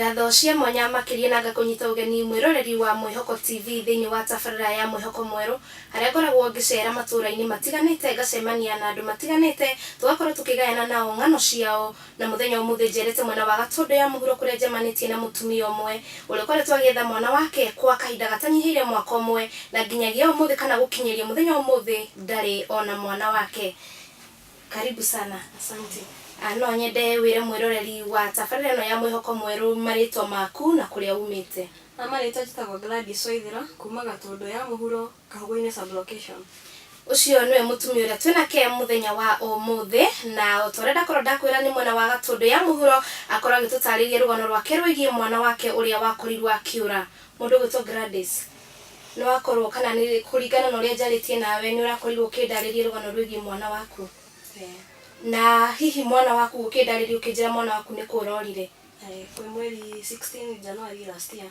ngatho cia mwanya makĩria na ngakũnyita ũgeni mwĩroreri wa mwĩhoko tv thĩinĩ wa tabarĩra ya mwĩhoko mwerũ harĩa ngoragwo ngĩcera matũũra-inĩ matiganĩte ngacemania na andũ matiganĩte tũgakorwo tũkĩgayana nao ng'ano ciao Na mũthenya ũmũthĩ njerete mwena wa Gatũndũ ya mũhuro kũrĩa njemanĩtie na mũtumia ũmwe ũrĩa ũkoretwo agĩetha mwana wake kwa kahinda gatanyihĩire mwaka ũmwe na nginyagia ũmũthĩ kana gũkinyĩria mũthenya wa ũmũthĩ ndarĩ ona mwana wake. Karibu sana. Asante. No nyende wĩre mwĩroreri wa tabarĩra ĩno ya Mwĩhoko Mwerũ marĩtwa maku na kũrĩa umĩte. Marĩtwa njĩtagwo Gladys Waithĩra kuma Gatũndũ ya mũhuro. Kanguinĩ sub-location. Ũcio nĩwe mũtumia ũrĩa twĩ nake mũthenya wa ũmũthĩ, na o ta ũrĩa ndakorwo ndakwĩra nĩ mwena wa Gatũndũ ya mũhuro, akorwo agĩtũtarĩria rũgano rwake rwĩgiĩ mwana wake ũrĩa wakorirwo akĩũra. Mũndũ ũgwĩtwo Gladys, nĩ wakorwo kana nĩ kũringana na ũrĩa njarĩtie nawe nĩ ũrakorirwo ũkĩndarĩria rũgano rwĩgiĩ mwana waku? Ĩĩ. Na hihi mwana waku ũkĩndarĩria ũkĩnjĩra mwana waku nĩ kũũra orire? Ĩĩ, kwĩ mweri sixteen January last year.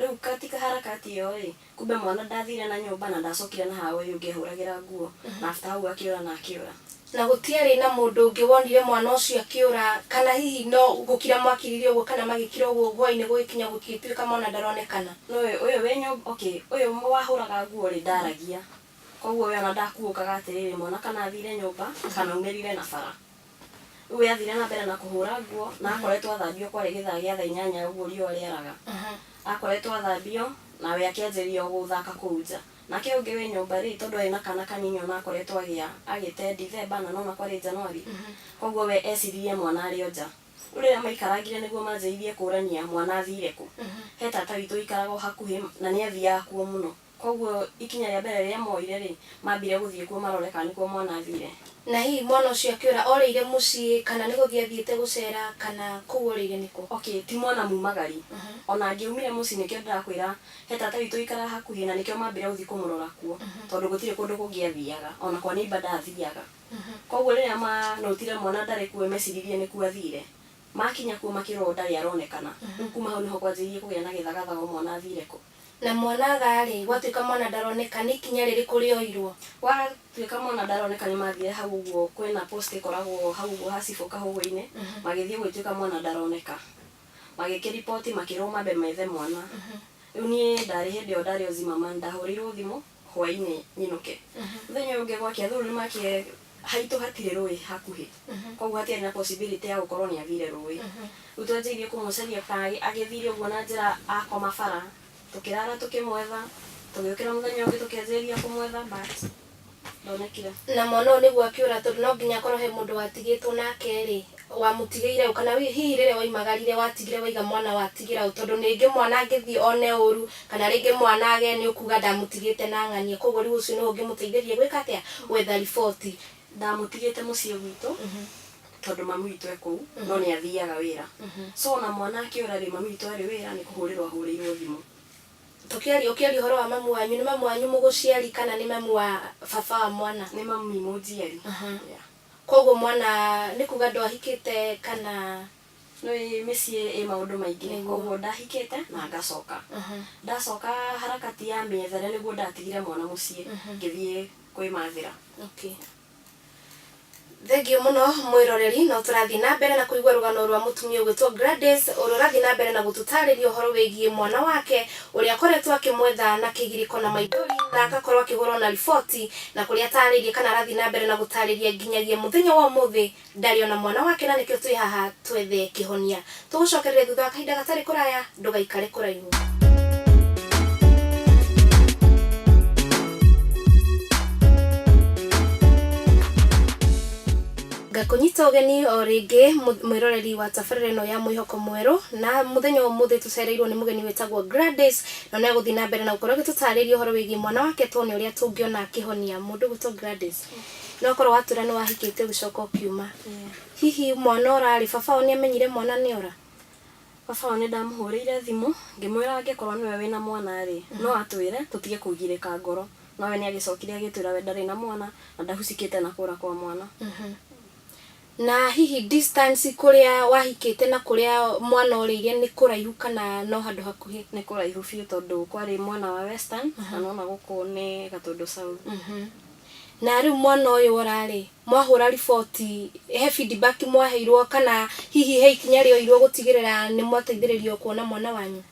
Rĩu katika harakati ĩyo-ĩ, kumbe mwana ndathire na nyũmba na ndacokire na ha ũyũ ũngĩ ehũragĩra nguo, na after hau akĩũra na akĩũra. Na gũtiarĩ na mũndũ ũngĩ wonire mwana ũcio akĩũra, kana hihi no gũkira mwakirire ũguo kana magĩkira ũguo hwa-inĩ gũgĩkinya gũgĩtuĩka mwana ndaronekana? No ũyũ wĩ nyũmba, okay, ũyũ wahũraga nguo-rĩ ndaragia, koguo we ona ndakuũkaga atĩrĩrĩ mwana kana athire nyũmba kana aumĩrire na bara. Rĩu we athire na mbere na kũhũra nguo na akoretwo athambio kwarĩ gĩthaa gĩa thaa inyanya ũguo riũa rĩaraga. Akoretwo athambio na we akĩanjĩrĩria o gũthaka kũu nja. Nake ũngĩ wĩ nyũmba-rĩ, tondũ arĩ na kaana kanini o na akoretwo agĩa agĩte Dithemba na nona kwarĩ Njanuari, kwoguo we eciririe mwana arĩ o nja. Rĩu rĩrĩa maikarangire nĩguo manjĩrĩirie kũrania mwana athire kũ, he tata witũ ũikaraga o hakuhĩ na nĩ athiaga kuo mũno. Kwoguo ikinya rĩa mbere rĩrĩa mooire-rĩ, maambire gũthiĩ kuo marore kana nĩkuo mwana athiire. Na hihi mwana ũcio akĩũra orĩire mũciĩ, kana nĩ gũthiĩ athiĩte gũceera, kana kũu orĩire nĩkũ? Okay, ti mwana muumagari. O na angĩaumire mũciĩ, nĩkĩo ndĩrakwĩra he tata witũ ũikaraga hakuhĩ, na nĩkĩo maambire gũthiĩ kũmũrora kuo, tondũ gũtirĩ kũndũ kũngĩ athiaga, o na kwa neighbour ndathiaga. Kwoguo rĩrĩa ma note ire mwana ndarĩ kuo-ĩ, meciririe nĩkuo athiire. Makinya kuo makĩrwo ndarĩ aronekana. Rĩu kuuma hau nĩho kwanjĩrĩirie kũgĩa na gĩthagathago mwana athiire kũ. Na mwana aga-rĩ, gwatuĩka mwana ndaroneka, nĩ ikinya rĩrĩkũ rĩoirwo? Gwatuĩka mwana ndaroneka nĩ mathiire hau ũguo, kwĩna post ĩkoragwo hau ũguo ha cibũ kahũgũ-inĩ, magĩthiĩ gũgĩtuĩka mwana ndaroneka. Magĩkĩ report makĩrwo mambe methe mwana. Rĩu niĩ ndarĩ hĩndĩ ĩyo ndarĩ o Zimmerman, ndahũrĩirwo thimũ, Hwaĩ-inĩ nyinũke. Mũthenya ũyũ ũngĩ gwakĩa thũũ nĩmakĩe Haitũ hatirĩ rũĩ hakuhĩ. Kwoguo hatiarĩ na possibility ya gũkorwo nĩathire rũĩ. Rĩu twanjĩirie kũmũcaria bara, agĩthire ũguo na njĩra akoma bara. Tũkĩrara tũkĩmwetha, tũgĩũkĩra mũthenya ũngĩ tũkĩanjĩrĩria kũmwetha but ndonekire. Na mwana ũyũ nĩguo akĩũra tondũ no nginya akorwo he mũndũ watigĩtwo nake-rĩ, wamũtigĩire ũ? Kana hihi rĩrĩa waimagarire watigire waiga mwana watigĩra ũ? Tondũ rĩngĩ mwana angĩthiĩ one ũru, kana rĩngĩ mwana agĩe nĩ ũkuga ndamũtigĩte na ng'ania, koguo rĩu ũcio nĩwe ũngĩmũteithĩrĩria gwĩka atĩa? Gwetha riboti. Ndamũtigĩte mũciĩ gwitũ, tondũ mami witũ e kũu, no nĩ athiaga wĩra. So ona mwana akĩũra rĩ, mami witũ arĩ wĩra nĩ kũhũrĩrwo ahũrĩirwo thimũ. Tũkĩaria ũkĩaria ũhoro wa mamu wanyu, nĩ mamu wanyu mũgũciari kana nĩ mamu wa baba wa mwana? Nĩ mami mũnjiari. Koguo mwana nĩ kuga ndwahikĩte kana? Nĩũĩ mĩciĩ ĩ maũndũ maingĩ, koguo ndahikĩte na ngacoka. Ndacoka harakati ya mĩethere nĩguo ndatigire mwana mũciĩ ngĩthiĩ kwĩmathĩra. Okay. Thengiũ mũno mwĩroreri, no tũrathiĩ na mbere na kũigua rũgano rwa mũtumia ũgwĩtwo Gladys, ũrĩa ũrathiĩ na mbere na gũtũtarĩria ũhoro wĩgiĩ mwana wake ũrĩa akoretwo akĩmwetha na kĩgirĩko na maithori na agakorwo akĩhũrwo na riboti na kũrĩa ataarĩirie kana arathiĩ na mbere na gũtaarĩria nginyagia mũthenya wa ũmũthĩ ndarĩ ona mwana wake na nĩkĩo twĩ haha twethe kĩhonia. Tũgũcokereria thutha wa kahinda gatarĩ kũraya, ndũgaikare kũraihu. Ngakũnyita ũgeni o rĩngĩ mwĩroreri wa tabarĩra ĩno ya Mwĩhoko Mwerũ na mũthenya wa ũmũthĩ. Tũcereirwo nĩ mũgeni wĩtagwo Gladys, na nĩ agũthiĩ na mbere na gũkorwo agĩtũtarĩria ũhoro wĩgiĩ mwana wake tuone ũrĩa tũngĩona akĩhonia mũndũ ũgwĩtwo Gladys. No korwo watũra nĩ wahikĩte ũgĩcoka ũkiuma. Hihi mwana ora rĩ, baba wao nĩ amenyire mwana nĩ ora? Baba wao nĩ ndamũhũrĩire thimũ ngĩmwĩra angĩkorwo nĩwe wĩna mwana rĩ, no atwĩre tũtige kũgirĩka ngoro. No we nĩ agĩcokire agĩtwĩra we ndarĩ na mwana na ndahucikĩte na kũra kwa mwana. Na hihi distance kũrĩa wahikĩte na kũrĩa mwana orĩire nĩ kũraihu kana no handũ hakuhĩ? Nĩ kũraihu biũ tondũ kwarĩ mwana wa western na nĩ wona gũkũ nĩ Gatũndũ South. Na rĩu mwana ũyũ ora rĩ, mwahũra riboti he feedback mwaheirwo kana hihi he ikinya rĩoirwo gũtigĩrĩra nĩ mwateithĩrĩrio kuona mwana wanyu?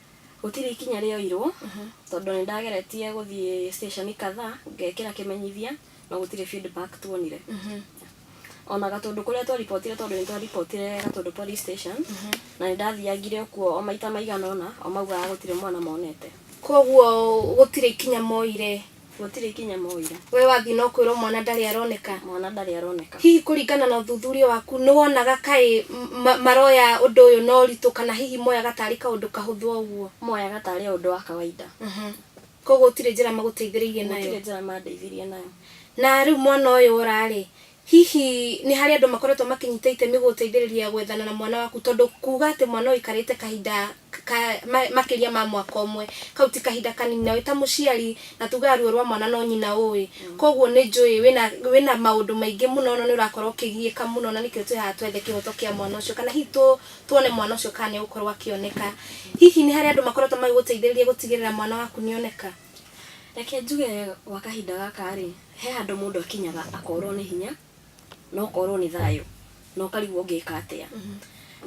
Gũtirĩ ikinya rĩoirwo tondũ nĩ ndageretie gũthiĩ station kadhaa ngekĩra kĩmenyithia na gũtirĩ feedback tuonire ona gatũndũ kũrĩa twaribotire tondũ nĩ twaribotire gatũndũ police station na nĩ ndathiangire okuo o maita maigana ũna o maugaga gũtirĩ mwana monete koguo gũtirĩ ikinya moire gũtirĩ ikinya moire we wathiĩ no kwĩrwo mwana ndarĩ aroneka mwana ndarĩ aroneka hihi kũringana na ũthuthuria waku nĩ wonaga kaĩ m- ma- maroya ũndũ ũyũ na ũritũ kana hihi moyaga tarĩ kaũndũ kahũthũ o ũguo moyaga tarĩ o ũndũ wa kawaida Kwoguo gũtirĩ njĩra magũteithĩrĩirie nayo? Gũtirĩ njĩra mandeithirie nayo. Na rĩu mwana ũyũ ora-rĩ, hihi nĩ harĩ andũ makoretwo makĩnyita itemi gũgũteithĩrĩria gwethana na mwana waku? Tondũ kuuga atĩ mwana ũyũ aikarĩte kahinda ka makĩria ma mwaka ũmwe, kau ti kahinda kanini. Na wĩ ta mũciari, na tugaga ruo rwa mwana no nyina ũũĩ. Kwoguo nĩ njũĩ wĩna wĩna maũndũ maingĩ mũno, no nĩ ũrakorwo ũkĩgiĩka mũno na nĩkĩo twĩ haha twethe kĩhoto kĩa mwana ũcio. Kana hihi tũ... Tuone mwana ũcio kana nĩ egũkorũo akĩoneka. Hihi nĩ harĩ andũ makoretwo magĩgũteithĩrĩria gũtigĩrĩra mwana waku nĩ oneka? Reke njuge gwa kahinda gaka-rĩ, he handũ mũndũ akinyaga akorũo nĩ hinya na ũkorũo nĩ thayũ na ũkarigwo ũngĩka atĩa.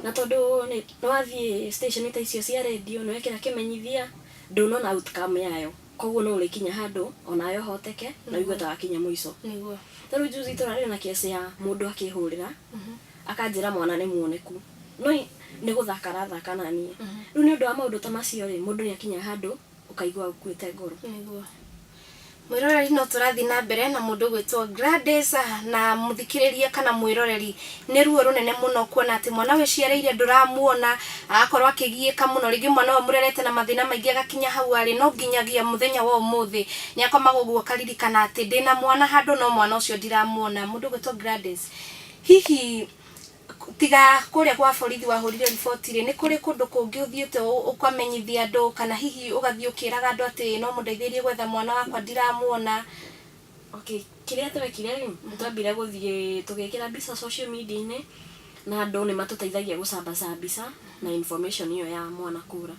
Na tondũ nĩ wathiĩ station ta icio cia redio, nĩ wekĩra kĩmenyithia, ndũnona outcome yayo. Kwoguo no ũrĩkinya handũ o nawe ũhoteke na ũigue ta wakinya mũico. Ta rĩu juzi tũrarĩ na case ya mũndũ akĩhũrĩra, Akanjĩra mwana nĩ muoneku. No nĩ gũthaka arathaka na niĩ. Rĩu nĩ ũndũ wa maũndũ ta macio rĩ, mũndũ nĩ akinyaga handũ ũkaigua ũkuĩte ngoro. Nĩguo. Mwĩroreri no tũrathiĩ na mbere na mũndũ ũgwĩtwo Gladys na mũthikĩrĩria kana mwĩroreri nĩ ruo rũnene mũno kuona atĩ mwana wĩciarĩire ndũramuona, agakorwo akĩgiĩka mũno, rĩngĩ mwana ũyũ mũrerete na mathĩna maingĩ agakinya hau arĩ, no nginyagia mũthenya wa ũmũthĩ nĩ akomaga ũguo akaririkana atĩ ndĩna mwana handũ no mwana ũcio ndiramuona. Mũndũ ũgwĩtwo Gladys. Hihi tiga kũrĩa gwa borithi wahũrire riboti-rĩ, nĩ kũrĩ kũndũ kũngĩ ũthiĩte ũkamenyithia andũ kana hihi ũgathiĩ ũkĩraga andũ atĩ no mũndeithĩrĩrie gwetha mwana wakwa ndiramuona? Okay, kĩrĩa twekire-rĩ, nĩ twambire gũthiĩ tũgĩkĩra mbica social media-inĩ na andũ nĩ matũteithagia gũcambaca mbica na information ĩyo ya mwana kũra.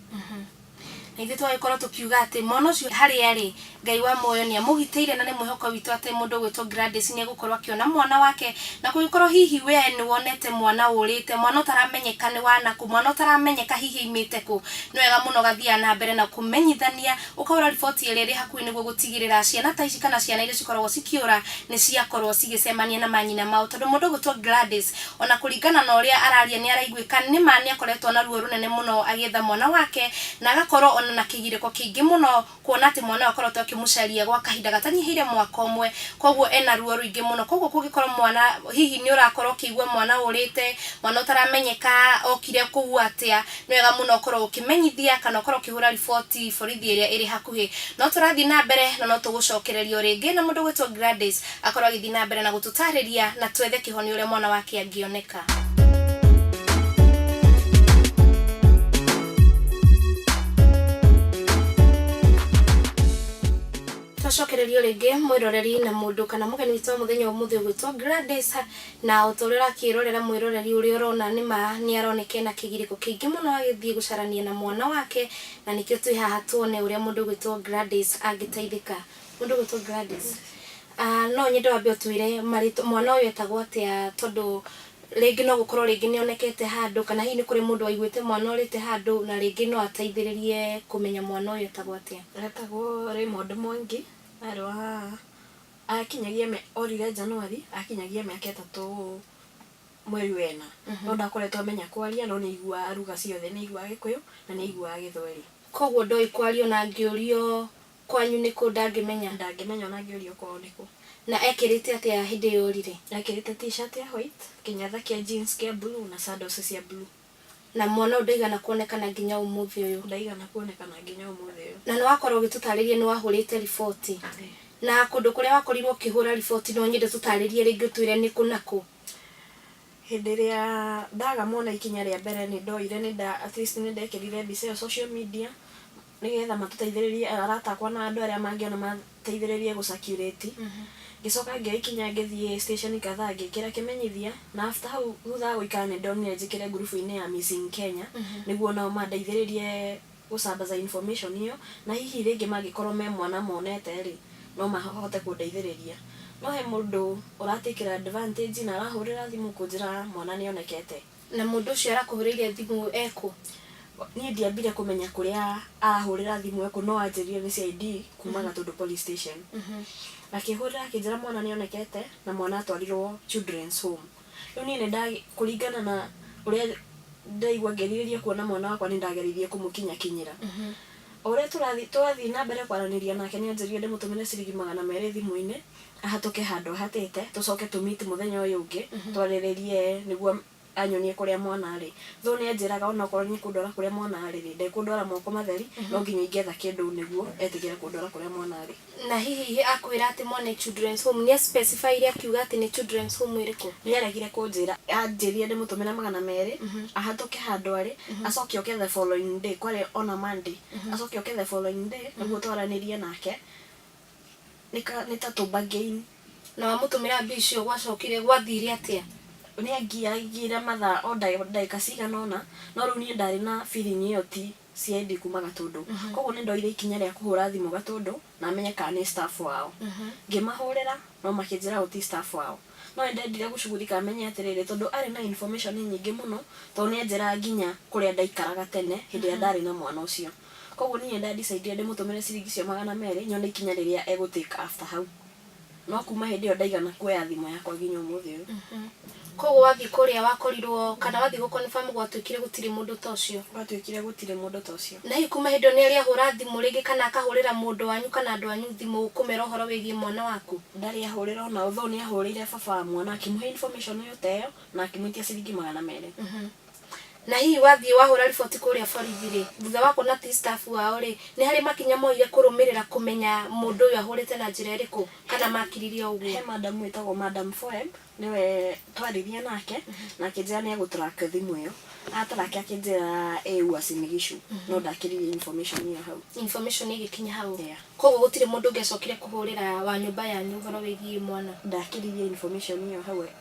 Na ithuĩ tũgagĩkorwo tũkiuga atĩ, Mwana ũcio harĩ arĩ, Ngai wa muoyo nĩamũgitĩire, na nĩ mwĩhoko witũ atĩ mũndũ ũgwĩtwo Gladys nĩegũkorwo akĩona mwana wake. Na kũngĩkorwo hihi wee nĩwonete mwana ũrĩte, mwana ũtaramenyeka nĩ wa nakũ, mwana ũtaramenyeka hihi aimĩte kũ, nĩ wega mũno ũgathiaga na mbere na kũmenyithania, ũkahũra riboti ĩrĩa ĩrĩ hakuhĩ nĩguo gũtigĩrĩra ciana ta ici kana ciana iria cikoragwo cikĩũra nĩciakorwo cigĩcemania na manyina mao. Tondũ mũndũ ũgwĩtwo Gladys O na kũringana na ũrĩa araria nĩ araiguĩka nĩ ma nĩ akoretwo na ruo rũnene mũno agĩetha mwana wake na agakorwo o na na kĩgirĩko kĩingĩ mũno kuona atĩ mwana ũyũ akoretwo akĩmũcaria gwa kahinda gatanyihĩire mwaka ũmwe kwoguo ena ruo rũingĩ mũno kwoguo kũngĩkorwo mwana hihi nĩ ũrakorwo ũkĩigua mwana ũrĩte, mwana ũtaramenyeka okire kũu atĩa nĩ wega mũno ũkorwo ũkĩmenyithia kana ũkorwo ũkĩhũra riboti borithi ĩrĩa ĩrĩ hakuhĩ. No tũrathiĩ na mbere na no tũgũcokereria o rĩngĩ na mũndũ ũgwĩtwo Gladys Akorwo agĩthiĩ na mbere na gũtũtaarĩria na twethe kĩhonia ũrĩa mwana wake angĩoneka. Twacokereria o rĩngĩ mwĩroreri na mũndũ kana mũgeni witũ wa mũthenya wa ũmũthĩ ũgwĩtwo Gladys, na o ta ũrĩa ũrakĩĩrorera mwĩroreri ũrĩa ũrona nĩ ma nĩ aroneka ena kĩgirĩko kĩingĩ mũno agĩthiĩ gũcarania na mwana wake, na nĩkĩo twĩ haha tuone ũrĩa mũndũ ũgwĩtwo Gladys angĩteithĩka. Mũndũ ũgwĩtwo Gladys. No nyende wambe ũtwĩre marĩtwa, mwana ũyũ etagwo atĩa tondũ rĩngĩ no gũkorwo rĩngĩ nĩ onekete handũ kana hihi nĩ kũrĩ mũndũ waiguĩte mwana orĩte handũ na rĩngĩ no ateithĩrĩrie kũmenya mwana ũyũ etagwo atĩa. Etagwo Raymond Mwangi, arĩ wa, akinyagia, orire January akinyagia mĩaka ĩtatũ mweri wa ĩna. No ndakoretwo amenya kwaria no nĩ aiguaga lugha ciothe, nĩ aiguaga Gĩkũyũ na nĩ aiguaga Gĩthweri. Kwoguo ndoĩ kwaria ona angĩũrio Kwanyu nĩ kũ? Ndangĩmenya. Ndangĩmenya o na angĩũrio kwao nĩ kũ. Na ekĩrĩte atĩa hĩndĩ ĩyo orire? Ekĩrĩte T-shirt ya white, kĩnyatha kĩa jeans kĩa blue, na sandals cia blue. Na mwana ũyũ ndaigana kuonekana nginya ũmũthĩ ũyũ. Ndaigana kuonekana nginya ũmũthĩ ũyũ. Na nĩ wakorwo ũgĩtũtaarĩria nĩ wahũrĩte riboti. Ĩĩ. Na kũndũ kũrĩa wakorirwo ũkĩhũra riboti no nyende ũtũtaarĩrie rĩngĩ ũtwĩre nĩ kũ na kũ? Hĩndĩ ĩrĩa ndaga mwana ikinya rĩa mbere nĩ ndoire nĩ nda at least nĩ ndekĩrire mbica ĩyo social media nĩgetha matũteithĩrĩrie arata akwa na andũ arĩa mangĩona mateithĩrĩrie gũ circulate. Ngĩcoka ngĩoya ikinya ngĩthiĩ station kadhaa ngĩkĩra kĩmenyithia na after hau thutha wa gũikara nĩ ndonire njĩkĩre group inĩ ya missing Kenya nĩguo onao mandeithĩrĩrie gũcambaza information ĩyo, na hihi rĩngĩ mangĩkorwo me mwana monete rĩ, no mahote kũndeithĩrĩria. No he mũndũ ũra take advantage na arahũrĩra thimũ kũnjĩra mwana nĩ onekete. Na mũndũ ũcio arakũhũrĩire thimũ e kũ? Niĩ ndiambire kũmenya kũrĩa arahũrĩra thimũ e kũ, no anjĩrire nĩ CID kuma Gatũndũ Police Station. Akĩhũrĩra akĩnjĩra mwana nĩ onekete, na mwana atwarirwo Children's Home. Rĩu niĩ nĩnda, kũringana na ũrĩa ndaigua ngĩrirĩria kuona mwana wakwa nĩndageririe kũmũkinyakinyĩra. O ũrĩa tũrathiĩ, twathiĩ na mbere kwaranĩria nake nĩanjĩrire ndĩmũtũmĩre ciringi magana merĩ thimũ-inĩ, ahatũke handũ ahatĩte, tũcoke tũ meet mũthenya ũyũ ũngĩ, twarĩrĩrie nĩguo anyonie kũrĩa mwana arĩ. Though nĩanjĩraga onokorwo nĩekũndwara kũrĩa mwana arĩ-rĩ, ndekũndwara moko matheri, no nginya ingĩetha kĩndũ nĩguo etĩkĩre kũndwara kũrĩa mwana arĩ. Na hihi akwĩra atĩ mo nĩ children's home, nĩ a specify ire akiuga atĩ nĩ children's home ĩrĩkũ? Nĩ aregire kũnjĩra. Anjĩrire ndĩmũtũmĩre magana merĩ, ahatũke handũ arĩ, acoke oke the following day, kwarĩ on a Monday, acoke oke the following day nĩguo twaranĩrie nake, nĩ ta tũ bargain. Na wamũtũmĩra mbia icio gwacokire, gwathire atĩa? Nĩ angiaigĩire mathaa o ndagĩka cigana ũna, no rĩu niĩ ndarĩ na feeling ĩyo ti. CID kuuma Gatũndũ. Kwoguo nĩ ndoire ikinya rĩa kũhũra thimũ Gatũndũ na menye kana nĩ staff wao. Ngĩmahũrĩra no makĩnjĩra ũũ ti staff wao. No nĩ ndendire gũcugurika menye atĩrĩrĩ tondũ arĩ na information nyingĩ mũno tondũ nĩ anjĩraga nginya kũrĩa ndaikaraga tene hĩndĩ ĩrĩa ndarĩ na mwana ũcio. Kwoguo niĩ nĩ nda decidire ndĩmũtũmĩre ciringi icio magana merĩ nyone ikinya rĩrĩa egũ take after hau. No kuma hĩndĩ ĩyo ndaigana kuoya thimũ yakwa nginya ũmũthĩ ũyũ. Mhm. Koguo wathiĩ kũrĩa wakorirwo kana wathiĩ gũ confirm gwatuĩkire gũtirĩ mũndũ ta ũcio. Gwatuĩkire gũtirĩ mũndũ ta ũcio. Na hihi kuma hĩndĩ ĩyo nĩarĩ ahũra thimũ rĩngĩ kana akahũrĩra mũndũ wanyu kana andũ anyu thimũ kũmera ũhoro wĩgiĩ mwana waku? Ndarĩ ahũrĩra ona ũ though nĩahũrĩire baba wa mwana akĩmũhe information ĩyo ta ĩyo na akĩmwĩtia ciringi magana merĩ. Mhm. Na hihi wathiĩ wahũra riboti kũrĩa borithi-rĩ, thutha wa kuona ti staff wao-rĩ, nĩ harĩ makinya moire kũrũmĩrĩra kũmenya mũndũ ũyũ ahũrĩte na njĩra ĩrĩkũ kana makiririe o ũguo? He madam wĩtagwo madam Foeb, nĩwe twaririe nake na akĩnjĩra nĩ egũ track thimũ ĩyo. A track akĩnjĩra ĩ Uasin Gishu, no ndakĩririe information ĩyo hau. Information ĩgĩkinya hau? Yeah. Kũguo gũtirĩ mũndũ ũngĩ acokire kũhũrĩra wa nyũmba yanyu ũhoro wĩgiĩ mwana? Ndakĩririe information ĩyo hau.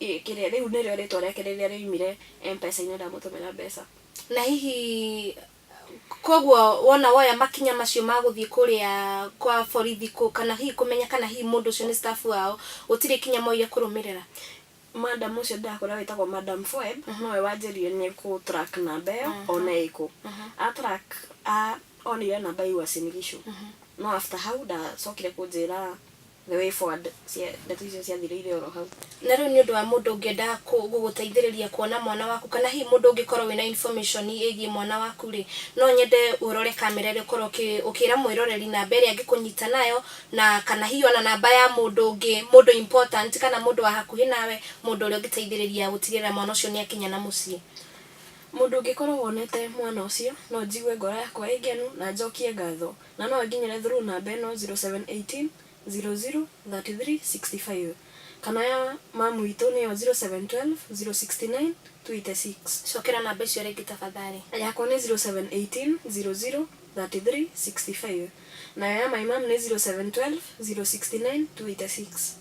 Kĩrĩa rĩu nĩrĩo rĩtwa rĩake rĩrĩa rĩoimire M-pesa-inĩ ndamũtũmĩra mbeca. Na hihi kwoguo wona woya makinya macio ma gũthiĩ kũrĩa kwa borithi kana hihi kũmenya kana hihi mũndũ ũcio nĩ staff wao, gũtirĩ ikinya mwoire kũrũmĩrĩra? Madam ũcio ndĩrakũĩra wĩtagwo Madam Foeb, nowe wanjĩrire nĩ ekũ track namba ĩyo one ĩkũ. A track onire namba ya Uasin Gishu. No after hau ndacokire kũnjĩra. The way forward cia ndeto icio ciathirĩire oro hau. Na rĩu nĩ ũndũ wa mũndũ ũngĩenda kũ- gũgũteithĩrĩria kuona mwana waku kana hihi mũndũ ũngĩkorwo wĩna information ĩgiĩ mwana waku rĩ, no nyende ũrore kamera ĩrĩa ũkorwo ũkĩ- ũkĩra mwĩroreri namba ĩrĩa angĩkũnyita nayo, na kana hihi ona namba ya mũndũ ũngĩ, mũndũ important kana mũndũ wa hakuhĩ nawe, mũndũ ũrĩa ũngĩteithĩrĩria gũtigĩrĩra mwana ũcio nĩ akinya na mũciĩ. Mũndũ ũngĩkorwo wonete mwana ũcio, no njigue ngoro yakwa ĩ ngenu na njokie ngatho. na no ĩkinyĩre through namba ĩno 0718003365 kana ya mamu witũ nĩyo 0712069286. Cokera namba icio rĩngĩ tafadhali. Yakwa nĩ 0718003365 nayo ya my mum nĩ 0712069286.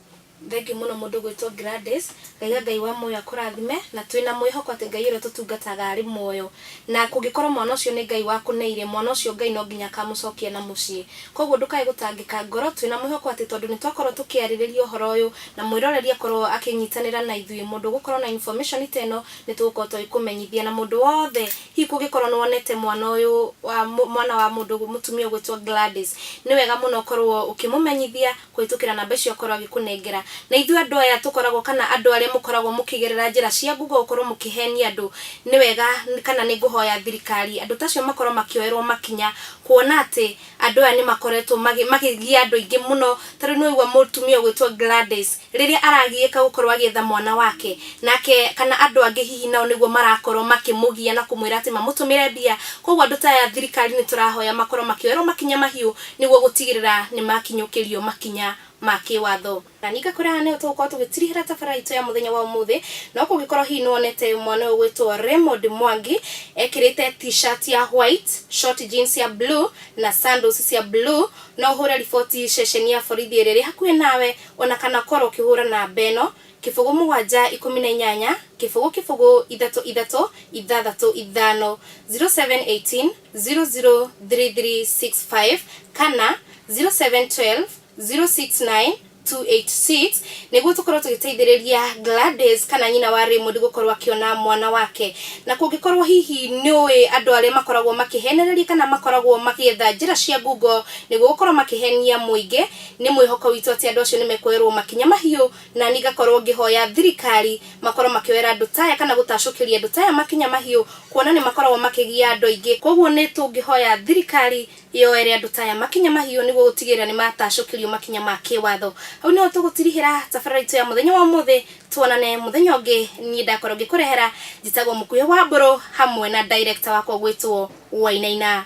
Thengiũ mũno mũndũ ũgwĩtwo Gladys. Ngaiga Ngai wa muoyo akũrathime, na twĩ na mwĩhoko atĩ Ngai ũrĩa tũtungataga arĩ muoyo. Na kũngĩkorwo mwana ũcio nĩ Ngai wakũneire, mwana ũcio Ngai no nginya akamũcokia na mũciĩ. Koguo ndũkae gũtangĩka ngoro, twĩ na mwĩhoko atĩ tondũ nĩ twakorwo tũkĩarĩrĩria ũhoro ũyũ, na mwĩroreri akorwo akĩnyitanĩra na ithuĩ, mũndũ ũgũkorwo na information ta ĩno, nĩ tũgũkorwo tũgĩkũmenyithia. Na mũndũ wothe hihi kũngĩkorwo nĩ wonete mwana ũyũ wa mwana wa mũndũ mũtumia ũgwĩtwo Gladys, nĩ wega mũno ũkorwo ũkĩmũmenyithia, kũhĩtũkĩra namba icio akorwo agĩkũnengera. Na ithuĩ andũ aya tũkoragwo kana andũ arĩa mũkoragwo mũkĩgerera njĩra cia Google gũkorwo mũkĩhenia andũ, nĩ wega kana nĩ ngũhoya thirikari andũ ta acio makorwo makĩoerwo makinya, kuona atĩ andũ aya nĩ makoretwo makĩgia andũ aingĩ mũno. Ta rĩu nĩ waigua mũtumia ũgwĩtwo Gladys, rĩrĩa aragiĩka gũkorwo agĩetha mwana wake, nake kana andũ angĩ hihi nao nĩguo marakorwo makĩmũgia na kũmwĩra atĩ mamũtũmĩre mbia. Kũguo andũ ta aya thirikari nĩ tũrahoya makorwo makĩoerwo makinya mahiũ nĩguo gũtigĩrĩra nĩ makinyũkĩrio makinya ma kĩwatho. Na ningĩ akwĩra nĩho tũgũkorwo tũgĩtirihĩra tabarĩra itũ ya mũthenya wa ũmũthĩ, no kũngĩkorwo hihi nĩ wonete mwana ũyũ ũgwĩtwo Raymond Mwangi ekĩrĩte t-shirt ya white, short jeans ya blue na sandals cia blue, no ũhũre riboti ceceni ya borithi ĩrĩa ĩrĩ hakuhĩ nawe, o na kana ũkorwo ũkĩhũra namba ĩno, kĩbũgũ mũgwanja ikũmi na inyanya, kĩbũgũ kĩbũgũ ithatũ ithatũ ithathatũ ithano, zero seven eighteen. 003365 kana 0712 069 286 niguo tukorwo tugiteithiriria Gladys kana nyina wa Raymond gukorwo akiona mwana wake na kungikorwo hihi ni ui andu aria makoragwo makihenereria kana makoragwo magietha njira cia ngungo niguo gukorwo makihenia muingi ni mwihoko witu ati andu acio ni mekuoyerwo makinya mahiu Na niĩ ngakorwo ngĩhoya thirikari makorwo makĩoera andũ ta aya kana gũtacũkĩria andũ ta aya makinya mahiũ kuona nĩ makoragwo makĩgia andũ aingĩ. Kwoguo nĩ tũngĩhoya thirikari yoere andũ ta aya makinya mahiũ nĩguo gũtigĩrĩra nĩ matacũkĩrio makinya ma kĩwatho. Hau nĩho tũgũtirihĩra tabarĩra itũ ya mũthenya wa ũmũthĩ. Tuonane mũthenya ũngĩ. Niĩ ndakorwo ngĩkũrehera njĩtagwo Mũkuhĩ Wambũrũ hamwe na director wakwa ũgwĩtwo Wainaina.